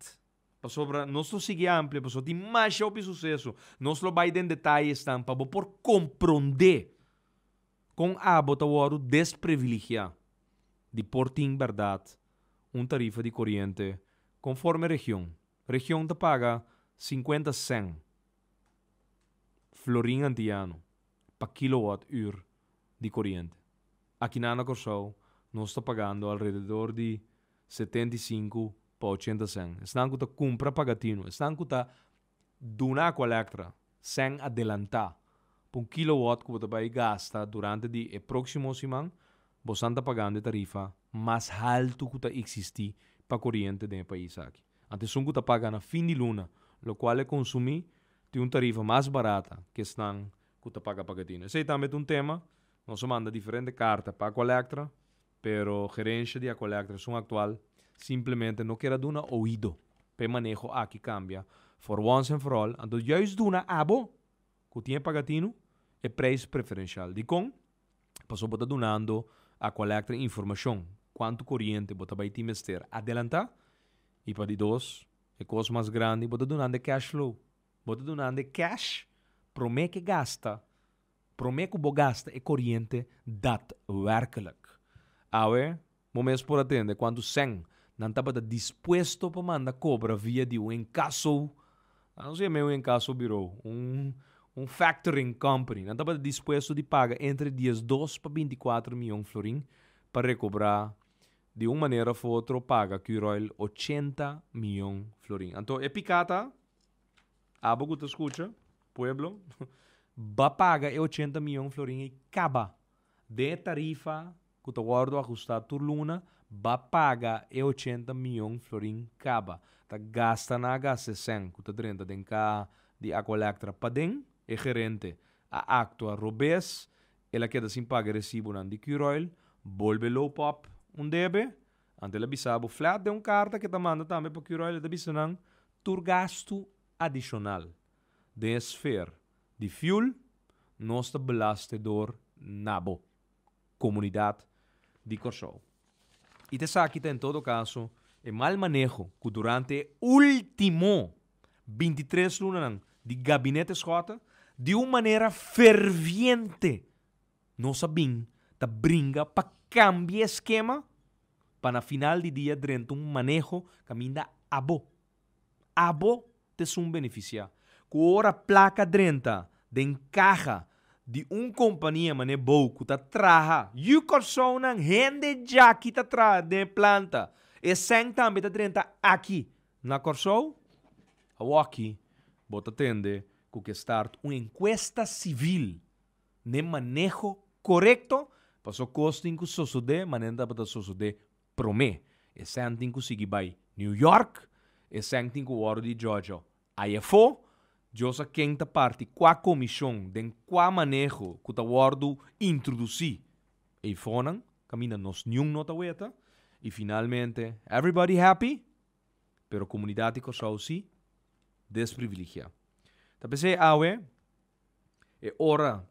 pasobra nos lo sigui amplia pasobra tin masha hopi suceso. Nos lo bay den detaye esnan pa bo por comprende. Kon abo ta wòrdu desprivilegiá di por tin bèrdat un tarifa di koriente konforme region? Region ta paga sinkuenta sèn florin antiano pa kilowòt ür di koriente. Akinan na Kòrsou nos ta pagando alrededor di setenta i sinku pa ochenta sèn. Esnan ku ta kumpra pagatino, esnan ku ta duna ku Elektra sèn adelantá pa un kilowòt ku bo ta bai gasta durante di e próksimo siman, bo san ta pagando e tarifa mas haltu ku ta eksistí pa koriente den e pais aki. Ant esun ku ta paga na fin di luna, lokual e konsumí tin un tarifa mas barata ku esnan ku ta paga pagadina. Esei tambe ta un tema. Nos a manda diferente karta pa ku Elektra. Pero Gerensha di Acollectra Sun Actual simplemente no ker a duna oido pa e maneho aki cambia for once and for all, anto juist duna abo cu tin e pagatino e prijs preferencial. Dicon? Pasobra bo ta dunando Acollectra informacion cuanto coriente bo ta bay tin mester adelanta y pa di dos, e cos mas grandi, bo ta dunando e cash flow, bo ta dunando e cash prome ke gasta. Promé ku bo gasta e koriente datwèrklik. Awe bo mes por a tende kuantu sèn nan tabata dispuesto pa manda kobra via di un enkaso, anos di mei un enkaso birou, un factoring company, nan tabata dispuesto di paga entre diesdos pa binti kuater mion florin pa rekobrá di un manera òf otro paga Curoil ochenta mion florin. Anto e piká ta. Abo ku ta skucha, pueblo, ba paga e ochenta miyon florin ei kaba. Den e tarifa ku ta wòrdu ajustá tur luna, ba paga e ochenta miyon florin kaba. Ta gasta nan a gasta esèn ku ta drenta den ka di Aqualectra paden. E gerente a aktua robes, el a keda sin paga e resibunan di Q-Royl, bolbe Lopop un debe. Anto el a bisa abo flèt den un karta ku e ta manda tambe pa Q-Royl, el ta bisa nan, Tur gastu adishonal den e sfer di fiul nos ta belastedor na bo komunidat di Kòrsou. I ta esaki ta en todo kaso e mal maneho ku durante e último binti tres lunanan di gabinete Schotten di un manera ferviente nos a bin ta bringa pa kambia e skema, Pa na final di dia drenta un maneho kaminda abo, abo ta esun benefisiá. Ku ora plaka drenta den kaha di un kompania manera bou ku ta traha, yu Kòrsounan hende djaki ta traha den e planta, esèn tambe ta drenta aki na Kòrsou? Awoki bo ta tende ku ke start un enkuesta sivil. n'e maneho korekto paso kos tin ku sosodé manera nan tabata sosodé promé. Esèn tin ku sigui bai New York, esèn tin ku wòrdu di jòjò ai afó. Dios sa ken ta parti kua komishon den kua maneho ku ta wòrdu introdusí ei fónan, kaminda nos niun no ta weta. I finalmente everybody happy pero komunidat di Kòrsou si desprivilegiá. Ta p'esei awe. E ora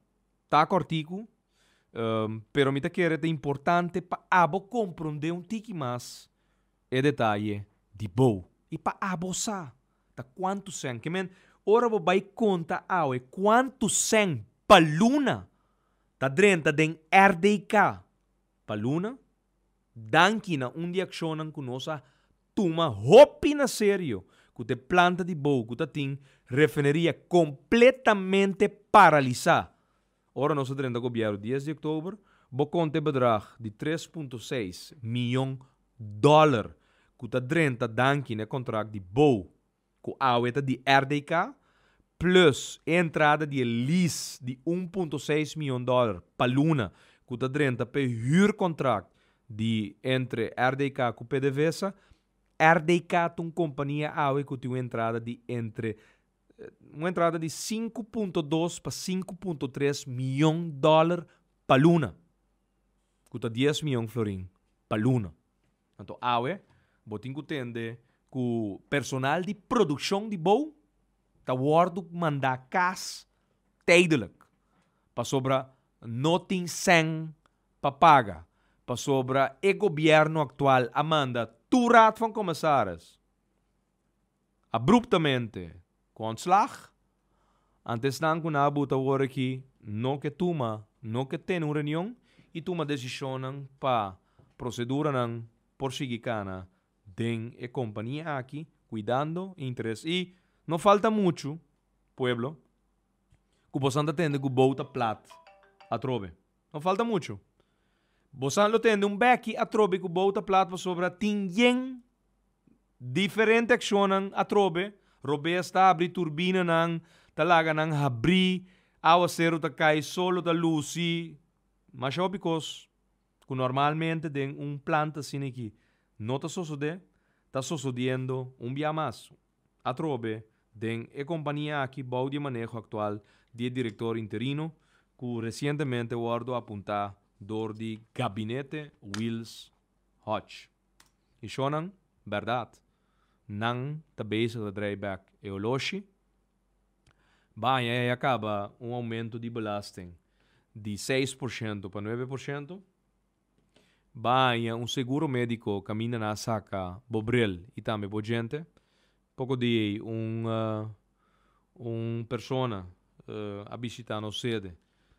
ta kòrtiku, pero mi ta kere ta importante pa abo komprondé un tiki mas e detaye di bo i pa abo sa ta kuantu sèn. Ke men, ora bo bai konta awe kuantu sèn pa luna ta drenta den rdk pa luna, Danki na un di akshonnan ku nos a tuma hopi na serio ku ta e planta di bou ku ta tin refineria kompletamente paralisá. Ora nos a drenta gobièrnu dies di oktober, bo konta e bedrag di tres punto seis miyon dòler ku ta drenta danki na e kontrakt di bou. ku awe ta di RDK, plus e entrada di e lease di un punto seis mion dòler pa luna ku ta drenta pa e hürkontrakt di entre RDK ku PDVSA, RDK ta un kompania awe ku tin un entrada di entre un entrada di sinku punto dos pa sinku punto tres mion dòler pa luna, ku ta dies mion florin pa luna. Anto awe bo tin ku tende ku personal di produkshon di bou ta wòrdu mandá kas tèidelijk pasobra no tin sèn pa paga pasobra e gobièrnu aktual a manda tur Raad van Commissaris abruptamente ku ontslag, ante esnan ku na buta wor aki no ke tuma, no ke tene un reunion i tuma desishonnan pa proseduranan por sigui kana den e kompania aki kuidando e interes. I no falta muchu, pueblo, ku bosan ta tende ku bouta plat atrobe. No falta muchu. Bosan lo tende un bèki atrobe ku bouta plat pasobra tin yen Diferente accionnan atrobe, Robes ta habri turbinanan, ta laga nan habri, awaceru ta cay, solo ta luci, masha hopi cos cu normalmente den un planta asiniqui no ta sosode, ta sosodiendo un bia mas. Atrobe den e compania aki bou di e maneho actual di e director interino cu recientemente wordo apunta door di Gabinete Wils Hodge. E shownan, berdad, nan ta bezig ta draai bek e oloshi. Baña ya caba un aumento di belasting di seis por shento pa nuebe por shento. Baña un seguro medico caminda na saca bo bril y tambe bo djente. Poko di ei un un persona a bishitá nos sede.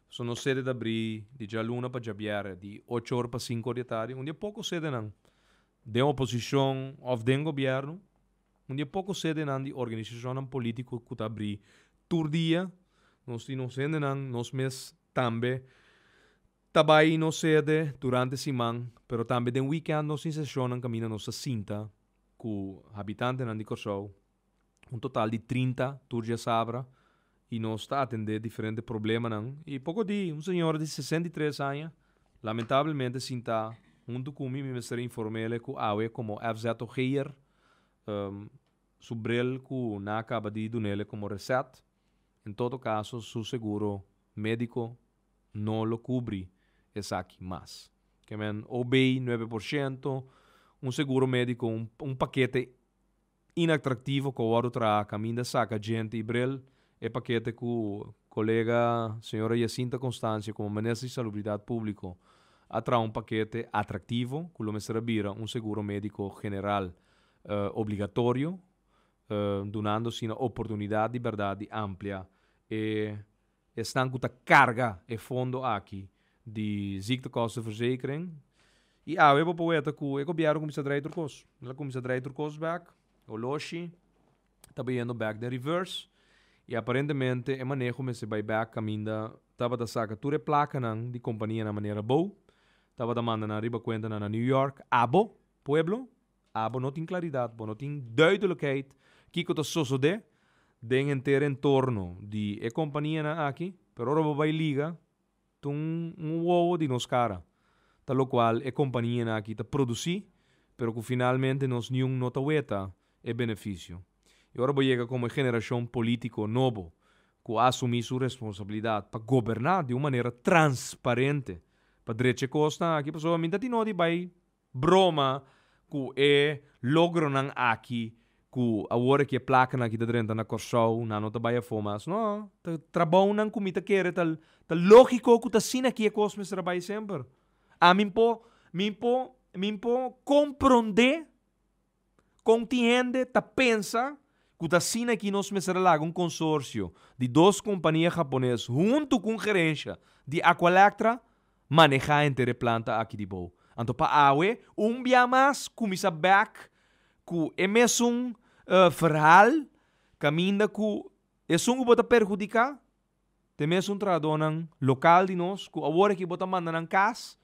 So nos sede ta abrí di djaluna pa djabièrrè di ocho or pa sinku or di atardi. Un di e poko sedenan den oposishon òf den gobièrnu, un di e poko sedenan di organisashonnan polítiko ku ta abrí tur dia. Nos tin nos hendenan, nos mes tambe Ta bai nos sede durante siman, pero tambe den weekend nos tin sesionnan kaminda nos ta sinta ku habitantenan di Kòrsou, un total di trinta tur djasabra, i nos ta atendé diferente problemanan. I poko di un señora di sesenta i tres aña lamentablemente sinta huntu ku mi mi mester inform'e ku awe komo FZOG'er su bril ku nan a kaba di dun'e komo reset, en todo kaso su seguro médiko. no lo kubri esaki mas. Ke men OB nuebe por shento, un seguro médiko, un un pakete inatraktivo ku a wòrdu traha kaminda saka djente i brel, e pakete ku kolega señora Yacinta Constancio komo Minister di Salubridat Públiko a traha un pakete atraktivo ku lo mester a bira un seguro médiko general obligatorio dunando asina oportunidat di bèrdat di amplia e Esnan ku ta karga e fondo aki di ziektekostenverzekering. I awe bo por weta ku e gobièrnu kuminsá drai otro kos. El a kuminsá drai otro kos bèk. Oloshi ta bai yendo bèk den reverse i aparentemente e maneho mester bai bèk kaminda tabata saka tur e plakanan di kompanianan manera abou, tabata manda nan riba kuentanan na New York. Abo, pueblo? A bo no tin klaridat, bo no tin duidelikheid kiko ta sosodé den henter entorno di e kompanianan aki, pero ora bo bai liga ta un un wowo di nos kara ta lokual e kompanianan aki ta produsí pero ku finalmente nos niun no ta weta e benefisio. I ora bo yega komo e generashon polítiko nobo ku a asumí su responsabilidat pa goberná di un manera transparente pa drecha e kosnan aki pasobra mi ta tin noti bai Broma cu e logronan aki cu awor e ke placanan aki ta drenta na Corsou, nan no ta bay afo mas. No, ta trabounan cu mi ta kere ta ta logico cu ta asina aki e cos mester bay semper. Ami npo, mi npo, mi npo comprende. Kon tin hende ta pensa ku ta asina ki nos mester a laga un konsorsio di dos kompania hapones huntu ku un gerensha di Aqualectra manehá henter e planta aki di bou? Anto pa awe un bia mas kuminsá bèk ku e mesun verhal kaminda ku esun ku bo ta perhudiká Te mes un trahadónan lokal di nos ku awor aki bo ta manda nan kas.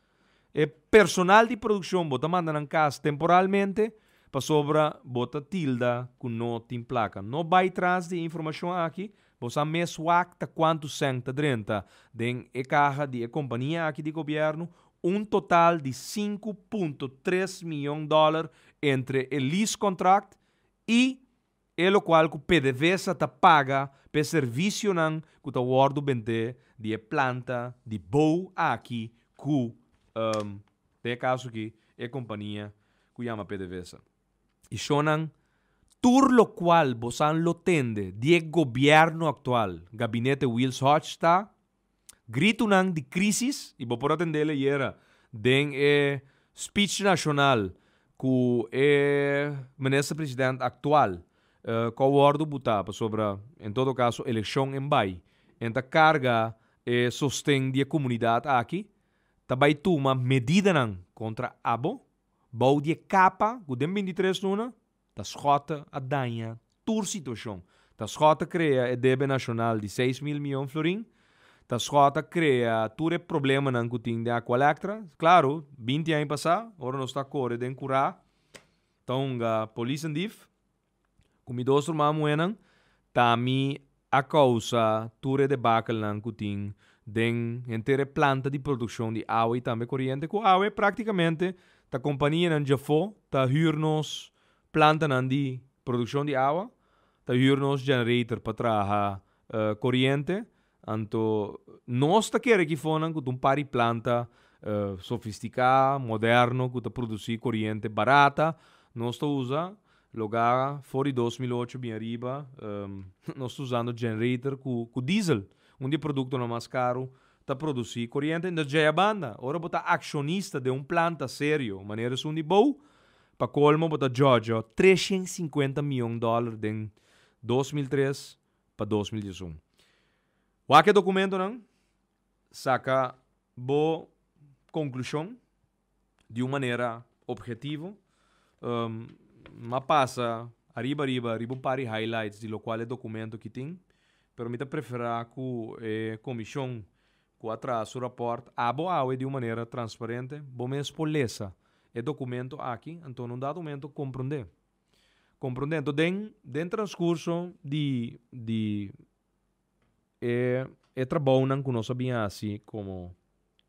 E personal di produkshon bo ta manda nan kas temporalmente pasobra bo ta tilda ku no tin plaka. No bai tras di e informashon aki, bo sa mes wak ta kuantu sèn ta drenta den e kaha di e kompania aki di gobièrnu, un total di sinku punto tres miyon dòler entre e lease kontrakt i e lokual ku pedevesa ta paga pa e servisionan ku ta wòrdu bendé di e planta di bou aki ku den e kaso aki e kompania ku yama pedevesa. I shonnan tur lokual bosan lo tende di e gobièrnu aktual, gabinete Wils Hodge ta. Gritunan di crisis, y bo por atendel ayera den e speech nacional cu e Minister President actual con wordo buta pasobra en todo caso eleccion en bay, en ta carga e sosten di e comunidad aki, ta bay tuma medidanan contra abo bou di e capa cu den bintitres luna Ta skòta a daña tur situashon. Ta skòta krea e debe nashonal di seis mil miyon florin. Ta skòta krea tur e problemanan ku tin den Aqualectra. Klaru, binti aña pasá, ora nos ta kore den kurá, ta hunga polisnan dif ku mi dos ruman muhénan ta mi a kousa tur e debakelnan ku tin den henter e planta di produkshon di awe i tambe koriente ku awe praktikamente ta kompanianan djafó ta hür nos plantanan di produkshon di awa, ta hür nos generator pa traha koriente, anto nos ta kere ki fonan ku ta un par di planta sofistiká, moderno ku ta produsí koriente barata, nos ta usa Loga for di dos mil ocho bin ariba nos ta usando generator ku diesel, un di e produktonan mas karu, ta produsí koriente. Entos djaya banda, ora bo ta akshonista den un planta serio manera esun di Bou, pa kolmo bo ta djòdjò treshent sinkuenta mion dòler den dos mil tres pa dos mil diesun. Wak e dokumentonan, saka bo konklushon. di un manera objetivo, mi a pasa ariba ariba riba un par di highlights di lokual e dokumento ki tin, pero mi ta preferá ku e komishon ku a traha su rapòrt abo awe di un manera transparente bo mes por lesa e dokumento aki anto na un dado momento komprondé. Komprondé. Anto den den transkurso di di. E e trabounan ku nos a bin hasi komo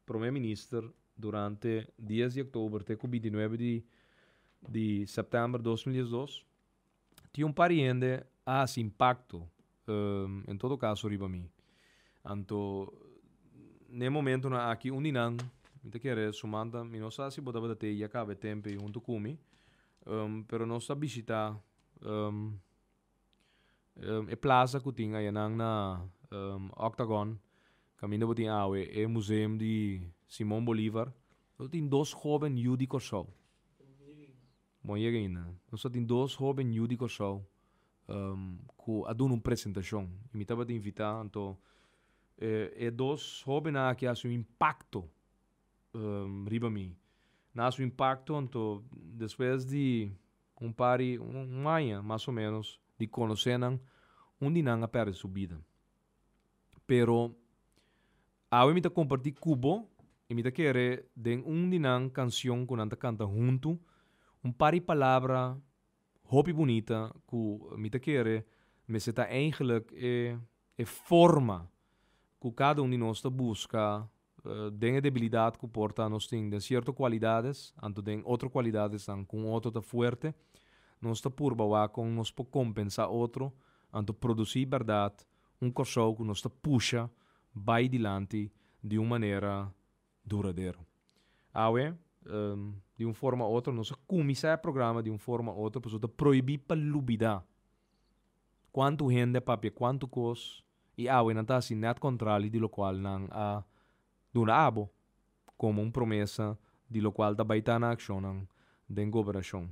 Prome Minister durante dies di Oktober te ku binti nuebe di di Sèptèmber dos mil dies dos tin un par di hende a hasi impakto en todo kaso riba mi. Anto n'e momentunan aki un di nan mi ta kere sumanta mi no sa si bo tabata te i a kaba e temp ei huntu ku mi pero nos ta bishitá e plaza ku tin ayanan na Octagon kaminda bo tin awe e museum di Simon Bolivar lo tin dos hoben yu di Kòrsou. Bo no yega ainda. Nos lo tin dos hoben yu di Kòrsou ku a duna un presentashon i mi tabata invitá anto e dos hoben aki a hasi un impakto riba mi. Nan a hasi un impakto anto despues di Un par di un aña mas o ménos di konosé nan, un di nan a pèrdè su bida. Pero awe mi ta kompartí ku bo i mi ta kere den un di nan kanshon ku nan ta kanta huntu un par di palabra hopi bunita ku mi ta kere mester ta eigelik e forma ku kada un di nos ta buska Den e debilidat ku por ta nos tin den sierto kualidades, anto den otro kualidadesnan ku un otro ta fuerte, nos ta purba wak kon nos por kompensá otro anto produsí bèrdat un Kòrsou ku nos ta pusha bai dilanti di un manera duradero. Awe, di un forma u otro, nos a kuminsá e programa di un forma u otro pasobra ta prohibí pa lubidá kuantu hende a papia kuantu kos I awe nan ta hasi nèt kontrali di lokual nan a duna abo, komo un promesa di lokual ta bai ta nan akshonnan den gobernashon.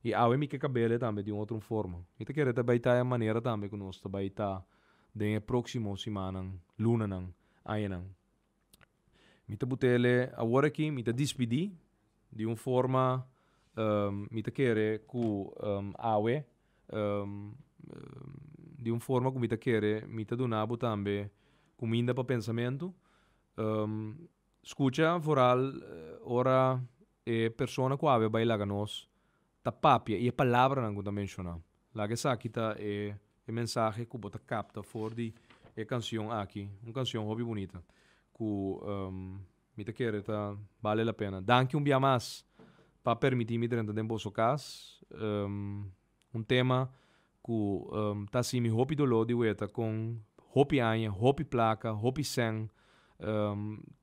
I awe mi ke kabel e tambe di un otro forma. Mi ta kere ta bai ta e manera tambe ku nos ta bai ta den e próksimo simannan, lunanan, añanan. Mi ta butele awor aki, mi ta dispidi di un forma mi ta kere ku awe di un forma ku mi ta kere mi ta duna bo tambe kuminda pa pensamentu. Skucha foral ora e persona ku awe a bai laga nos. Ta papia i e palabranan ku ta menshoná. Laga esaki ta e mensahe ku bo ta kapta for di e kanshon aki. Un kanshon hopi bunita ku mi ta kere ta bale la pena. Danki un bia mas pa permití mi drenta den boso kas. Un tema Ku ta simi hopi doló di weta kon hopi aña, hopi plaka, hopi sèn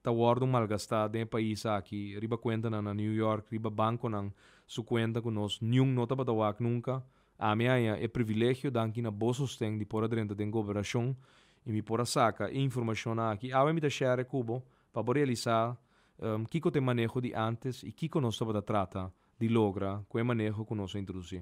ta wòrdu malgastá den e pais aki riba kuentanan na New York, riba bankonan su kuenta ku nos niun no tabata wak nunka. Ami a haña e privilegio, danki na bo sosten, di por a drenta den goberashon i mi por a saka e informashonnan aki. Awe mi ta share ku bo pa bo realisá kiko ta e maneho di ántes i kiko nos tabata trata di logra ku e maneho ku nos a introdusí.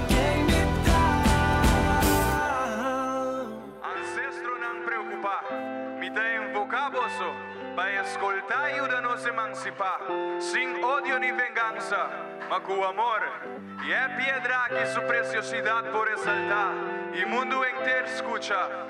Kien mi ta? Ancestronan preocupa, mi ta invoca Boso pa escolta y yuda nos emancipa, sin odio ni venganza, ma cu amor. Y e piedra aki su preciosidad por resalta y mundo enter scucha.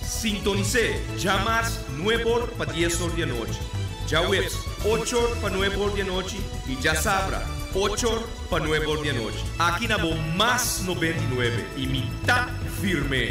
Sintonis'é djamas nueb'or pa diesor di anochi, djaweps ochor pa nueb'or di anochi i djasabra ochor pa nueb'or di anochi aki na bo Mas Nobenta i Nuebe i mi ta firm'é.